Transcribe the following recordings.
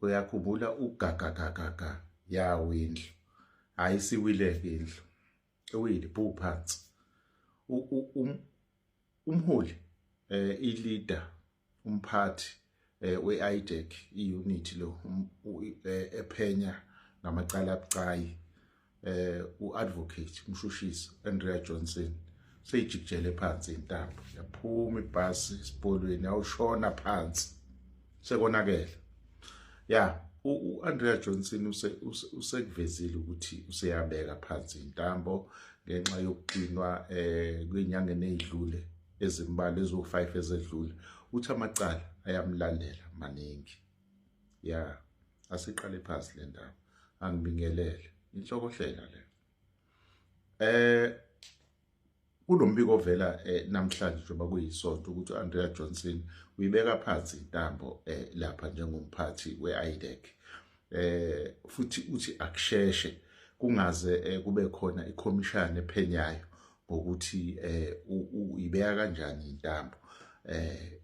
uyakhumbula ugagagagaga yawo indlu hayi siwileke indlu ewile bhu phansi um, umholi um i-leader umphathi eh, we-IDEC i-unit lo um, eh, ephenya ngamacala abucayi eh uadvocate umshushisi Andrea Johnson seyijikjele phansi intambo yaphuma ibhasi isibolweni awushona phansi sekonakele ya uAndrea Johnson use usekuvezile ukuthi useyabeka phansi intambo ngenxa yokuqinwa eh kwinyanga enedlule ezimbalwa eziwu-5 ezedlule uthi amacala ayamlandela maningi ya asiqale phansi le ndaba angibingelele inhlokohlela le eh kunombiko ovela eh, namhlanje njengoba kuyisonto ukuthi u-andrea johnson uyibeka phansi intambo eh, lapha njengomphathi we-idec eh futhi uthi akusheshe kungaze eh, kube khona ikhomishana ephenyayo ngokuthi eh uyibeka kanjani intambo eh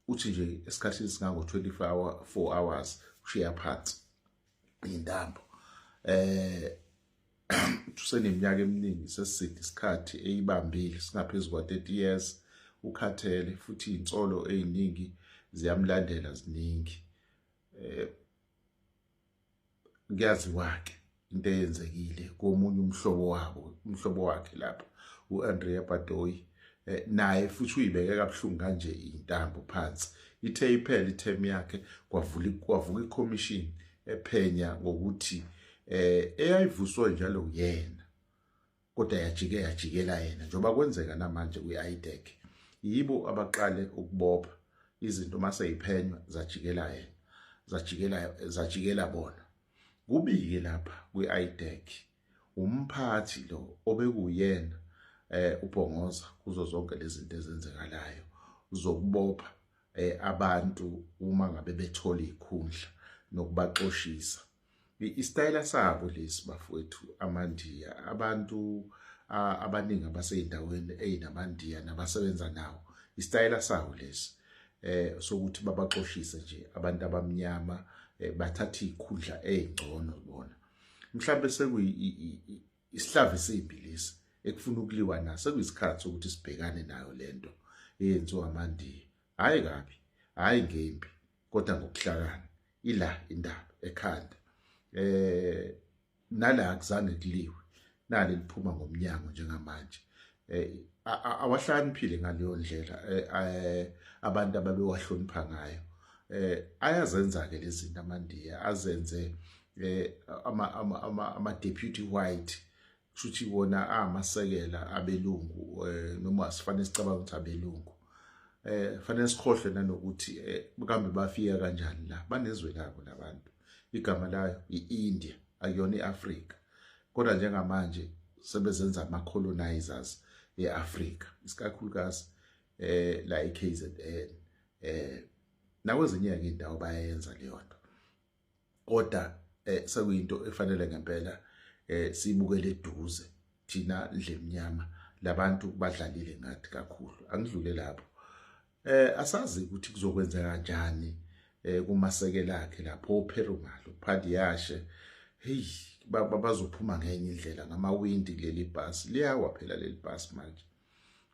uthi nje esikhathini singango 24 hour 4 hours ushiya phansi intambo eh useneminyaka eminingi seside isikhathi eyibambile singaphezulu kwa 30 years ukhathele futhi insolo eziningi ziyamlandela ziningi eh kuyaziwa ke into eyenzekile komunye umhlobo wabo umhlobo wakhe lapha uAndrea Badoyi eh, naye futhi uyibeke kabuhlungu kanje intambo phansi ithe iphela iterm yakhe kwavula kwavuka iCommission ephenya ngokuthi eh eyayivuswe njalo uyena kodwa yajike yajikela yena njengoba kwenzeka namanje kwi-IDEC yibo abaqale ukubopha izinto uma seyiphenywa zajikela yena zajikela zajikela bona kubike lapha kwi-IDEC umphathi lo obekuyena eh ubhongoza kuzo zonke lezi zinto ezenzekalayo zokubopha eh abantu uma ngabe bethola ikhundla nokubaxoshisa Isitayela sabo lesi bafowethu amandiya abantu abaningi abaseyindaweni eyinamandiya nabasebenza nawo isitayela sawo lesi eh sokuthi babaxoshise nje abantu abamnyama eh, bathatha ikhundla ezingcono bona mhlawumbe sekuyi isihlava esimbi lesi ekufuna ukuliwa naso sekuyisikhathi sokuthi sibhekane nayo lento eyenziwa amandiya hayi kabi hayi ngembi kodwa ngokuhlakana ila indaba ekhanda eh nala akuzange kuliwe nali liphuma ngomnyango njengamanje eh awahlaniphile ngaleyo ndlela eh, eh, abantu ababewahlonipha ngayo eh ayazenza ke lezi zinto amandiya azenze eh ama ama ama deputy white kushuthi wona amasekela abelungu eh, noma sifanele sicabanga ukuthi abelungu eh fanele sikhohle nanokuthi eh, kambe bafika kanjani la banezwe labo labantu igama layo iIndia akuyona iAfrika kodwa njengamanje sebezenza ama colonizers eAfrika isikakhulukazi eh la eKZN eh nakwezinye ke indawo bayenza leyo nto kodwa eh sekuyinto efanele ngempela eh sibukele eduze thina ndlemnyama labantu badlalile ngathi kakhulu angidlule lapho eh asazi ukuthi kuzokwenza kanjani eh kumasekela akhe lapho opherumalo phadi yashe hey bazophuma ngenye indlela ngamawindi kuleli bus liyawa phela leli bus manje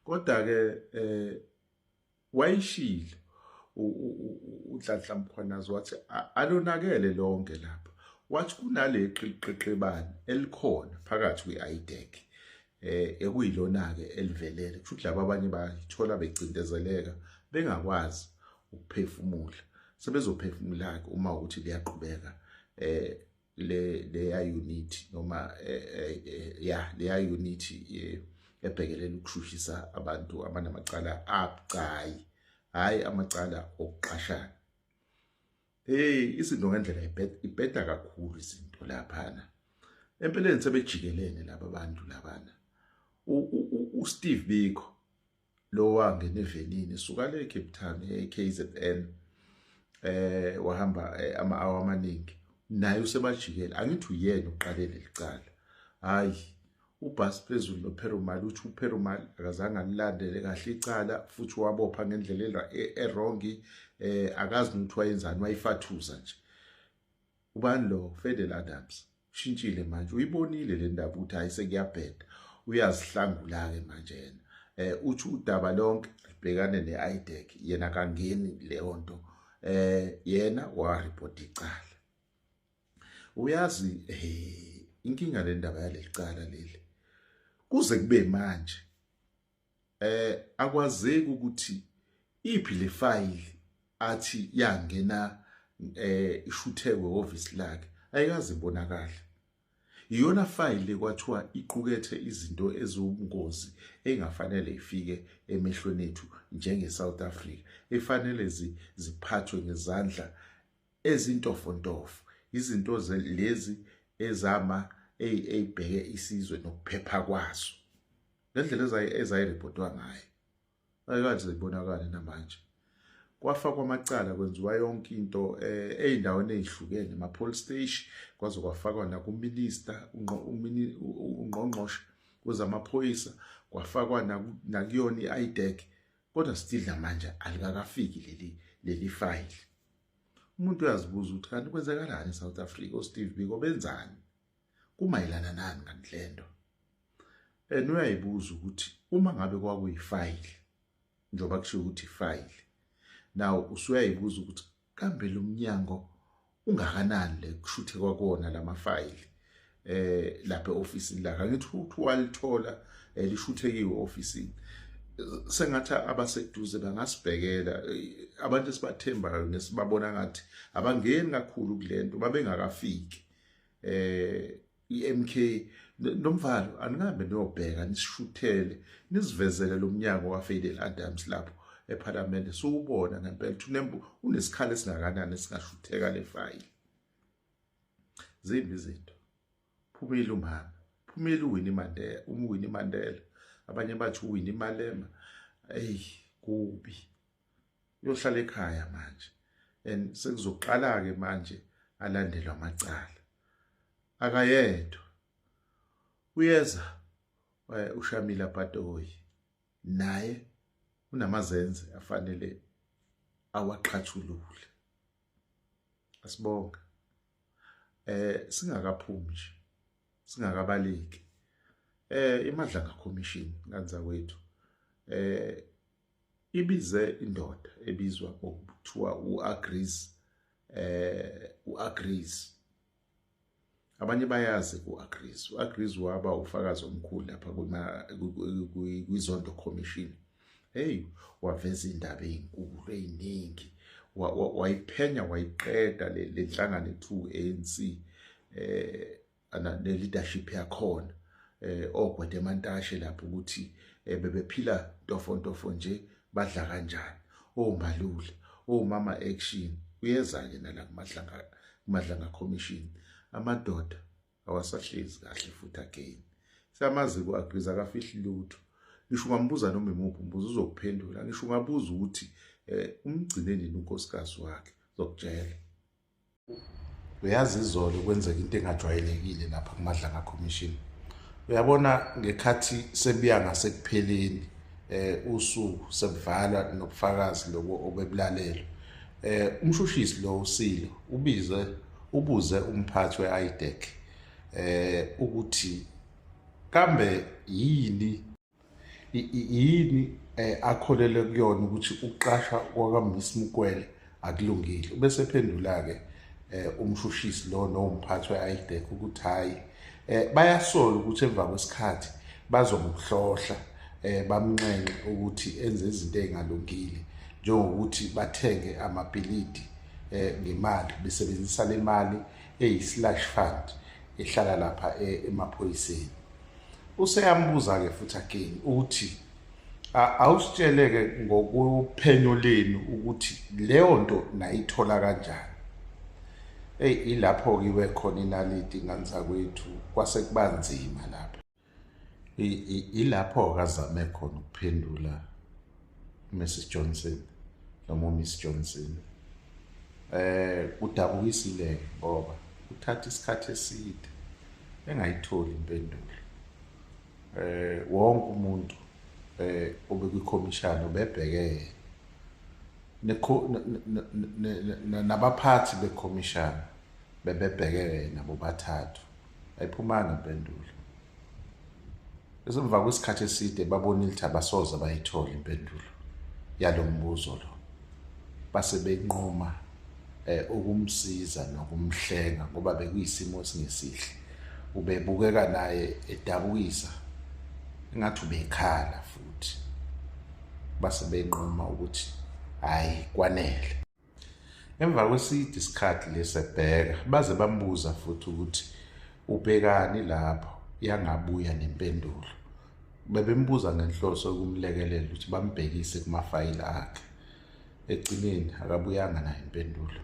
kodwa ke eh wayishilo uNhlanhla Mkhwanazi wathi alonakele lonke lapha wathi kunaleqiqeqebane elikhona phakathi kwi-IDEC eh ekuyilona-ke elivelele kusho ukuthi laba abanye bayithola becindezeleka bengakwazi ukuphefumula sebezophefumula-ke uma ukuthi liyaqhubeka eh le leya unit noma eh, eh, eh, ya leya unit ebhekelela ukushushisa abantu abanamacala abucayi hayi amacala okuqashana hey izinto ngendlela ibheda kakhulu izinto laphana empeleni sebejikelene laba bantu labana uSteve Biko lo wangena evenini suka le Cape Town eKZN eh wahamba eh, ama hour amaningi naye usemajikela angithi uyena uqalele licala hayi ubhasi phezulu noperumali uthi uperumali akazange alilandele kahle icala futhi wabopha ngendlela e-, erongi eh akazi ukuthi wayenzani wayifathuza nje ubani lo fedel adams ushintshile manje uyibonile le ndaba ukuthi hayi sekuyabheda uyazihlangula-ke manje yena eh uthi udaba lonke libhekane ne-idec yena kangeni leyo nto eh yena waripota icala uyazi eh inkinga le ndaba yaleli cala leli kuze kube manje eh akwazeki ukuthi iphi le file athi yangena eh ishuthekwe office lakhe ayikaze ibonakala iyona file kwathiwa iqukethe izinto eziwubungozi engafanele ifike emehlweni ethu njenge South Africa efanele ziphathwe ngezandla ezintofontofo izinto lezi ezama eyibheke isizwe nokuphepha kwaso ngendlela ezayirepotwa ngayo ayikanje ibonakale namanje kwafakwa amacala kwenziwa yonke into eh, ey'ndaweni ey'hlukene ema-police station kwaze kwafakwa nakuminista ungqongqoshe kwezamaphoyisa kwafakwa nakuyona i-idec kodwa still namanje alikakafiki leli leli fayili umuntu uyazibuza ukuthi kanti kwenzekalani e-south africa usteve biko benzani kumayelana nani kanti lento and uyayibuza ukuthi uma ngabe kwakuyifayili njengoba kusho ukuthi ifayili now usuyayibuza ukuthi kambe lo mnyango ungakanani le kushuthe kwakona lamafayili eh lapha eofisini la ngithi uthi walithola eh, lishuthekiwe ofisini sengathi abaseduze bangasibhekela eh, abantu esibathembayo nesibabona ngathi abangeni kakhulu kulento babengakafiki eh iMK nomvalo aningabe niyobheka nisishuthele nisivezele lomnyango kaFadel Adams lapho ePhalamende siwubona ngempela thunembu unesikhala esingakanani esingashutheka lefayili zimbi izinto phumile umama phumile uWinnie Mandela uMwini Mandela abanye bathi uWinnie Malema eyi kubi uyohlala ekhaya manje and sekuzoqala ke manje alandelwa amacala akayedwa uyeza eh, ushamila patoyi naye unamazenze afanele awaqhathulule asibonga eh singakaphumi nje singakabaleki eh imadlanga commission kanza kwethu eh ibize indoda ebizwa ngokuthiwa u-agrees eh u-agrees abanye bayazi ku-agrees u-agrees waba ufakazi omkhulu lapha kwizondo commission hey waveza indaba ezinkulu eziningi wayiphenya wayiqeda le nhlangano ethu ANC eh ne leadership yakhona eh ogwede emantashe lapho ukuthi eh, bebephila tofo tofo nje badla kanjani oh malule oh mama action uyeza ke nala kumadlanga kumadlanga commission amadoda awasahlezi kahle futhi again samaziko agriza kafihli lutho ngisho ungambuza noma imuphi umbuzo uzokuphendula ngisho ungabuza ukuthi eh umgcine nini unkosikazi wakhe zokutshela uyazi izolo kwenzeka into engajwayelekile lapha kumadlanga commission uyabona ngekhathi sebuya ngasekupheleni eh usuku sebuvalwa nobufakazi lobo obebulalelwe eh umshushisi lo usilo ubize ubuze umphathi weIDEC eh ukuthi kambe yini yini eh, akholele kuyona ukuthi ukuqasha kwakamisi mukwele akulungile bese phendula ke eh, umshushisi lo nomphathi weIDEC ukuthi hayi eh, bayasola ukuthi emva kwesikhathi bazomhlohla eh bamnxenxe ukuthi enze izinto ezingalungile njengokuthi bathenge amabhilidi eh ngemali besebenzisa le mali eyi slash fund ehlala lapha eh, emaphoyiseni useyambuza-ke futhi again ukuthi awusitshele-ke ngokuphenyo lenu ukuthi leyo nto nayithola kanjani eyi ilapho-ke iwe khona inaliti ingane zakwethu kwase kuba nzima lapho ilapho-ke azame khona ukuphendula Mrs Johnson noma Miss Johnson eh kudabukisile ngoba uthatha isikhathi eside engayitholi impendulo eh wonke umuntu eh obekuyikhomishana ubebhekene nabaphathi bekhomishana bebebhekene nabo bathathu ayiphumanga impendulo esemva kwesikhathi eside babonile ukuthi abasoze bayithole impendulo yalo mbuzo lo base benquma eh ukumsiza nokumhlenga ngoba bekuyisimo esingesihle ubebukeka naye edabukisa engathi ubekhala futhi base benquma ukuthi hayi kwanele Emva kweside isikhathi lesi ebheka baze bambuza futhi ukuthi ubhekani lapho yangabuya nempendulo. Bebembuza ngenhloso yokumlekelela ukuthi bambhekise kumafayili akhe. Ekugcineni akabuyanga nayo impendulo.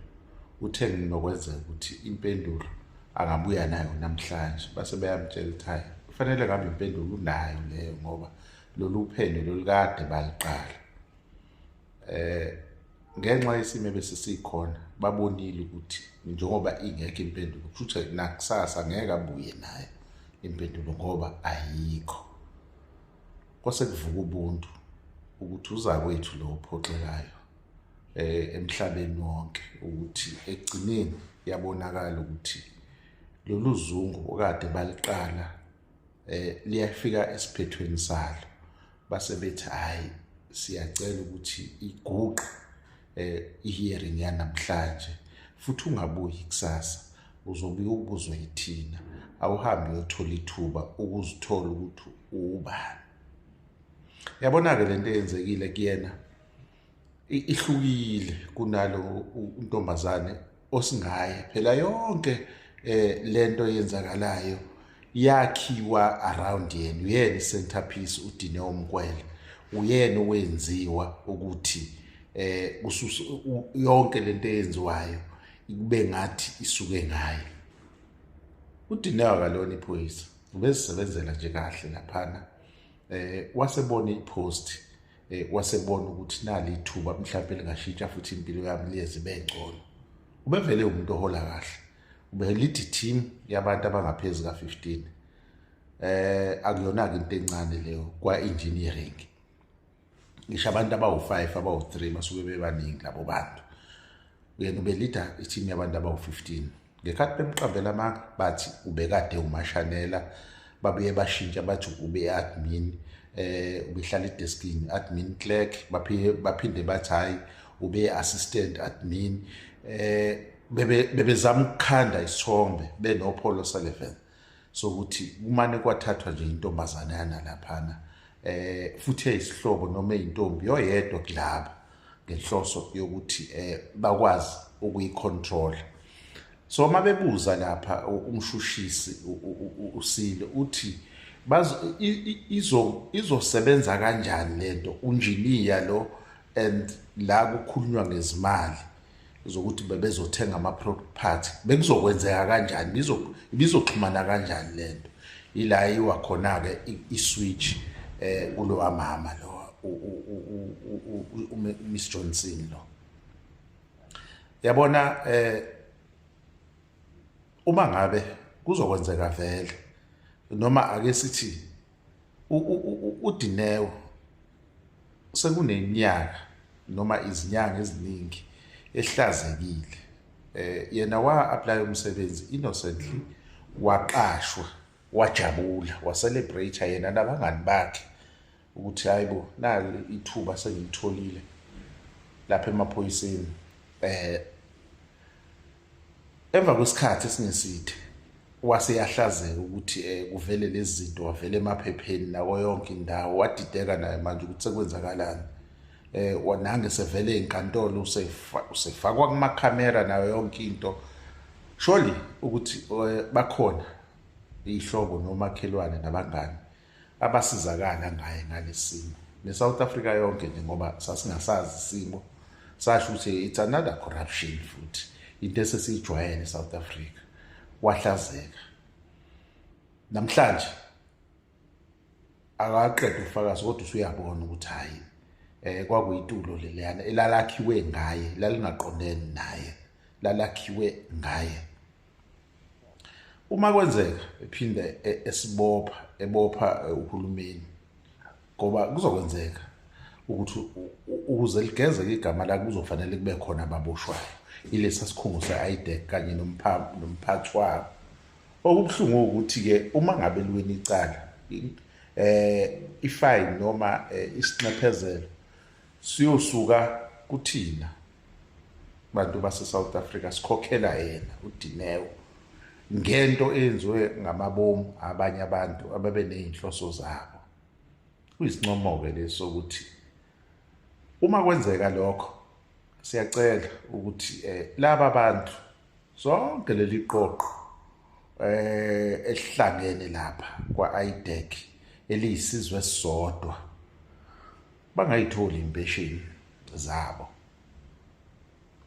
Uthe nginokwenzeka ukuthi impendulo angabuya nayo namhlanje base beyamtshela ukuthi hhayi kufanele ngabe impendulo unayo leyo ngoba lolu phenyo lolukade baliqala. eh ngenxa yesimo ebesisikhona babonile ukuthi njengoba ingekho impendulo kusho ukuthi nakusasa ngeke abuye naye impendulo ngoba ayikho kwase kuvuka ubuntu ukuthi uzakwethu lo ophoxekayo eh emhlabeni wonke ukuthi egcineni yabonakala ukuthi lolu zungu okade baliqala eh liyafika esiphethweni salo base bethi hayi siyacela ukuthi iguqe eh ihearing yanamhlanje futhi ungabuyi kusasa uzobe ubuzwe yithina awuhambe uyothola ithuba ukuzithola ukuthi ubani yabona ke lento eyenzekile kuyena ihlukile kunalo untombazane osingaye phela yonke eh lento yenzakalayo yakhiwa around yena uyena centerpiece udine omkwele uyena owenziwa ukuthi eh ususa yonke lento eyenziwayo ikube ngathi isuke ngaye udinewa kalona iphoyisa ubezisebenzela nje kahle laphana eh wasebona ipost eh, wasebona ukuthi nali ithuba mhlawumbe lingashintsha futhi impilo yami liyeze ibe ngcono ubevele umuntu ohola kahle ubelidi team yabantu abangaphezulu ka-15 eh akuyona-ke into encane leyo kwa-engineering ngisho abantu abawu-five abawu-three basuke bebaningi labo bantu yena ubelida i-team yabantu abawu-15 Ngekhathi bemqambela amanga bathi ubekade umashanela babuye bashintsha bathi ube-admin eh ubehlala edeskini admin clerk baphinde baphinde bathi hayi ube assistant admin eh bebe bebezama ukukhanda isithombe benopolo 11 sokuthi kumane kwathathwa nje intombazane yanalaphana eh futhi eyisihlobo noma eyintombi yoyedwa kulaba ngenhloso yokuthi eh bakwazi ukuyicontrol so uma bebuza lapha umshushisi usile uthi bazo izo izosebenza kanjani lento unjiniya lo and la kukhulunywa ngezimali zokuthi bebezothenga ama-product party bekuzokwenzeka kanjani ibizoxhumana kanjani le nto ila iwa khona-ke i-switch um kulowa mama lo umiss johnson lo yabona um uma ngabe kuzokwenzeka vele noma ake sithi uDineo sekuneminyaka noma izinyanga eziningi ehlazekile eh yena wa apply umsebenzi innocently waqashwa wajabula wacelebrate yena nabangani bakhe ukuthi hayibo nalo ithuba sengilitholile lapha emaphoyiseni eh Emva kwesikhathi esingeside wase yahlazeka ukuthi um kuvele lezi zinto wavele emaphepheni nako yonke indawo wadideka naye manje ukuthi sekwenzakalani um eh, nange sevele ey'nkantolo usefakwa kumakhamera nayo yonke into surely ukuthi um bakhona iy'hlobo nomakhelwane nabangani abasizakala ngaye ngalesimo neSouth Africa yonke nje ngoba sasingasazi isimo sasho ukuthi it's another corruption futhi into esesiyijwayele eSouth Africa wahlazeka namhlanje akaqeda ufakazi kodwa usuyabona ukuthi hayi eh kwakuyitulo leliyana elalakhiwe ngaye lalingaqondene naye lalakhiwe ngaye uma kwenzeka ephinde e-, esibopha ebopha e, uhulumeni ngoba kuzokwenzeka ukuthi ukuze ligezeke igama lakhe kuzofanele kube khona ababoshwayo ilesa sikhungo se-idec kanye nomphathi wabo okubuhlungu ukuthi-ke uma ngabe liweni icala um ifayini noma um isinxephezelo siyosuka kuthina bantu base South Africa sikhokhela yena uDineo ngento eyenziwe ngamabomu abanye abantu ababe nezinhloso zabo kuyisincomo ke leso ukuthi uma kwenzeka lokho siyacela ukuthi eh laba bantu sonke leli qoqo eh esihlangene lapha kwa IDEC eliyisizwe sodwa bangayitholi impesheni zabo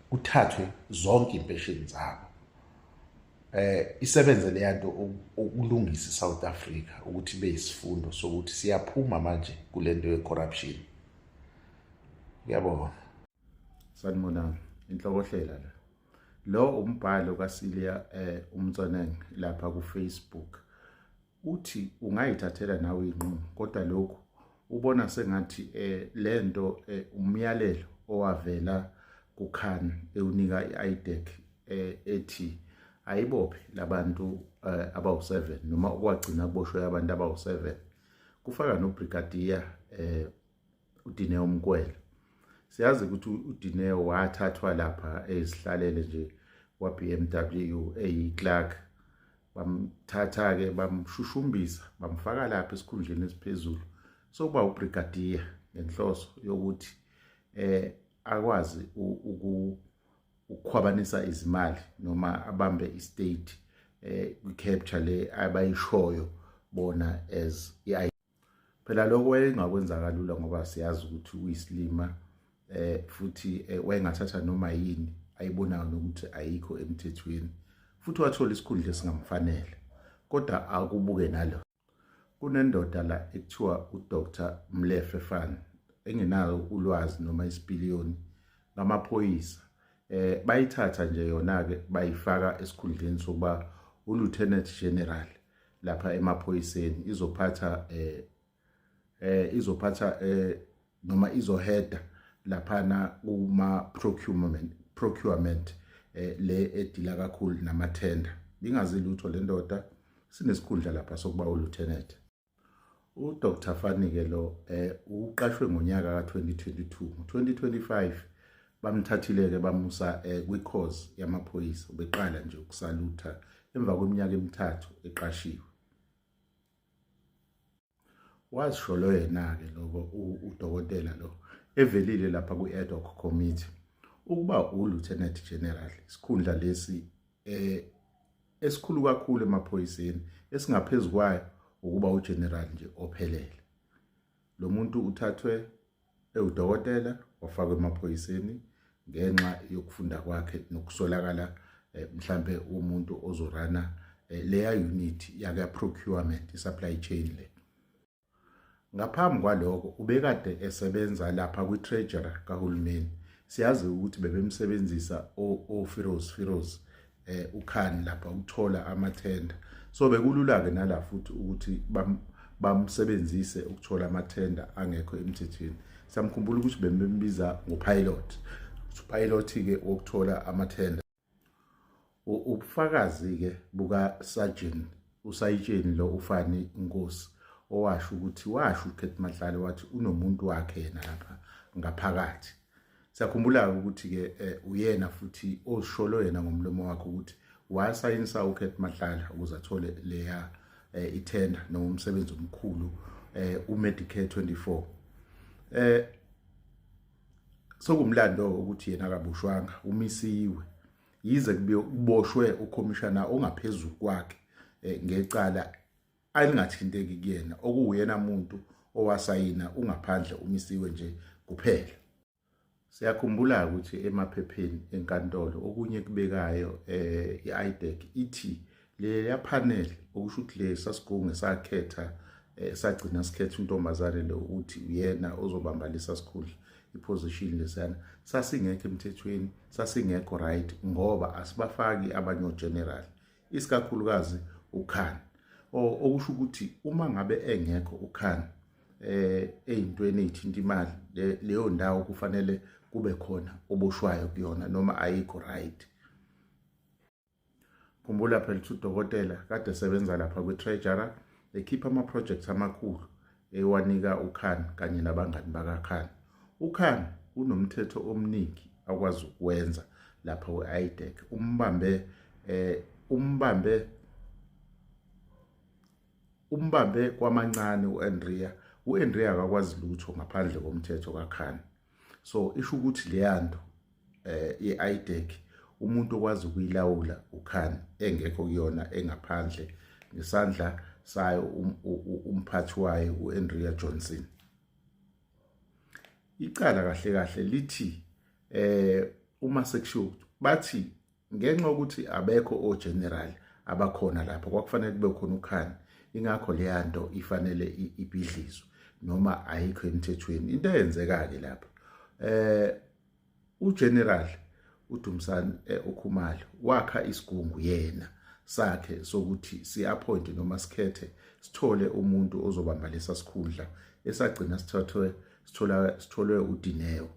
kuthathwe zonke impesheni zabo eh isebenze leya nto ukulungisa iSouth Africa ukuthi ibe isifundo sokuthi siyaphuma manje kule nto yecorruption uyabona sanibonani inhlokohlela la lo umbhalo kaSilia eh umtsoneng lapha ku Facebook uthi ungayithathela nawe inqumo kodwa lokhu ubona sengathi eh lento eh, umyalelo owavela kuKhan ewunika iIDEC eh, ethi ayibophe labantu eh, abawu7 noma okwagcina kuboshwe abantu abawu7 kufaka nobrigadier eh uDineo Mkwela siyazi ukuthi uDineo wathathwa lapha ezihlalele nje kwaBMW eyiClark bamthatha ke bamshushumbisa bamfaka lapha esikhundleni esiphezulu sokuba ubrigadier ngenhloso yokuthi eh akwazi ukukhwabanisa izimali noma abambe istate eh kwi capture le abayishoyo bona as i phela lokho wayengakwenza kalula ngoba siyazi ukuthi uyisilima eh futhi eh, wayengathatha noma yini ayibonayo nokuthi ayikho emthethweni futhi wathola isikhundla esingamfanele kodwa akubuke nalo kunendoda la ekuthiwa uDr Mlefe Fan engenayo ulwazi noma isipiliyoni ngamaphoyisa eh bayithatha nje yona ke bayifaka esikhundleni sokuba uLieutenant General lapha emaphoyiseni izophatha eh eh izophatha eh noma izoheda laphana kuma procurement procurement eh le edila kakhulu nama tender ingazi lutho lendoda sinesikhundla lapha sokuba uluthenet UDr Fanike lo eh uqashwe ngonyaka ka2022 ngo2025 bamthathile ke bamusa eh kwicourse yamaphoyisa ubeqala nje ukusalutha emva kweminyaka emithathu eqashiwe wazisholo yena ke lokho udokotela lo evelile lapha kwi-ad hoc committee ukuba ulieutenant general isikhundla lesi eh esikhulu kakhulu emaphoyiseni esingaphezu kwayo ukuba ugeneral nje ophelele lo muntu uthathwe ewudokotela wafakwa emaphoyiseni ngenxa yokufunda kwakhe nokusolakala eh, mhlambe umuntu ozorana eh, leya unit yaka procurement i supply chain le Ngaphambi kwaloko ubekade esebenza lapha kwi-treasury kahulumeni. Siyazi ukuthi bebemsebenzisa oFiroz Firoz eh uKhan lapha ukuthola amathenda. So bekulula ke nala futhi ukuthi bamsebenzise ukuthola amathenda angekho emthethweni. Samkhumbula ukuthi bembiza ngopilot. Upilot ke wokuthola amathenda ubufakazi-ke bukasajini usayitsheni lo ufani inkosi owasho ukuthi washo ukhethi mahlale wathi unomuntu wakhe yena lapha ngaphakathi siyakhumbula-ke ukuthi-ke eh, uyena futhi ozisholo yena ngomlomo wakhe ukuthi wasayinisa ukhethi mahlala ukuze athole leya eh, ithenda noma umsebenzi omkhulu eh, umedicare 24 eh sokumlando ukuthi yena akaboshwanga umisiwe yize kuboshwe ukhomishana ongaphezulu kwakhe eh, ngecala alingathinteki kuyena okuwuyena muntu owasayina ungaphandle umisiwe nje kuphela siyakhumbula ukuthi emaphepheni enkantolo okunye kubekayo eh i-IDEC ithi leya panel okusho ukuthi le sasigunge sakhetha eh, sagcina sikhetha untombazane lo ukuthi uyena ozobamba lesa sikhundla iposition lesana sasingekho emthethweni sasingekho right ngoba asibafaki abanye ogeneral isikakhulukazi ukhan okusho ukuthi uma ngabe engekho ukhan eh eyintweni ezithinta imali leyo ndawo kufanele kube khona oboshwayo kuyona noma ayikho right khumbula phela ukuthi udokotela kade esebenza lapha kwi-treasurer ekhipha ama-projects amakhulu ewanika ukhan kanye nabangani bakakhan ukhan unomthetho omningi akwazi ukwenza lapha we-idec umbambe eh umbambe umbambe kwamancane u-andrea u-andrea akakwazi lutho ngaphandle komthetho kakhan so isho ukuthi leya nto eh i-idec umuntu okwazi ukuyilawula ukhan engekho kuyona engaphandle ngesandla sayo um, umphathi wayo u-andrea johnson icala kahle kahle lithi eh uma sekushiwo bathi ngenxa yokuthi abekho ogeneral abakhona lapho kwakufanele kube khona ukhani ingakho leya nto ifanele ibhidlizwe noma ayikho emthethweni into eyenzeka-ke lapho eh ugeneral uDumsani eh, uKhumalo wakha isigungu yena sakhe sokuthi siappoint noma sikhethe sithole umuntu ozobamba lesa sikhundla esagcina sithathwe sithola sitholwe uDineo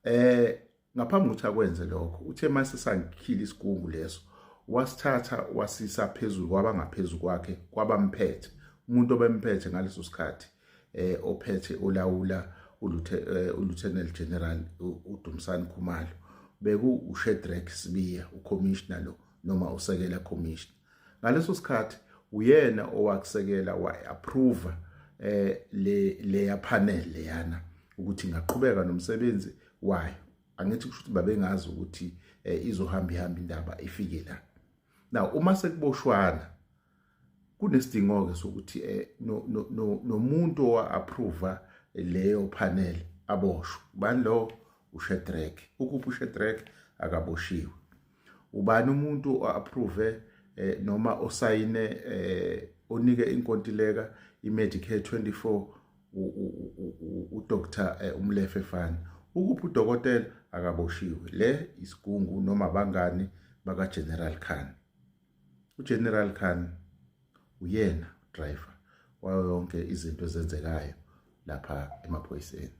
eh Ngaphambi kokuthi akwenze lokho, uthe mase sangikhila isigungu leso, wasithatha wasisa phezulu kwabangaphezu kwakhe kwabamphethe. Umuntu obemphethe ngaleso sikhathi eh ophethe olawula eh, uLieutenant General uDumsani Khumalo beku uShedrack Sibiya uCommissioner lo noma usekela Commissioner. ngaleso sikhathi uyena owakusekela wayi-approva eh le leya panel leyana ukuthi ngaqhubeka nomsebenzi wayo angithi kusho ukuthi babengazi ukuthi eh, izohamba ihamba indaba ifike la now uma sekuboshwana kunesidingo ke sokuthi eh, nomuntu no, no, owa-approva leyo panel aboshwe bani lo ushedrack ukuphi ushedrack akaboshiwe ubani umuntu o-approve eh, noma osayine eh, onike inkontileka i-medicare 24 udr eh, umlefe fani ukuphi udokotela akaboshiwe le isigungu noma bangani bakageneral khan ugeneral khan uyena driver wayo yonke izinto ezenzekayo lapha emaphoyiseni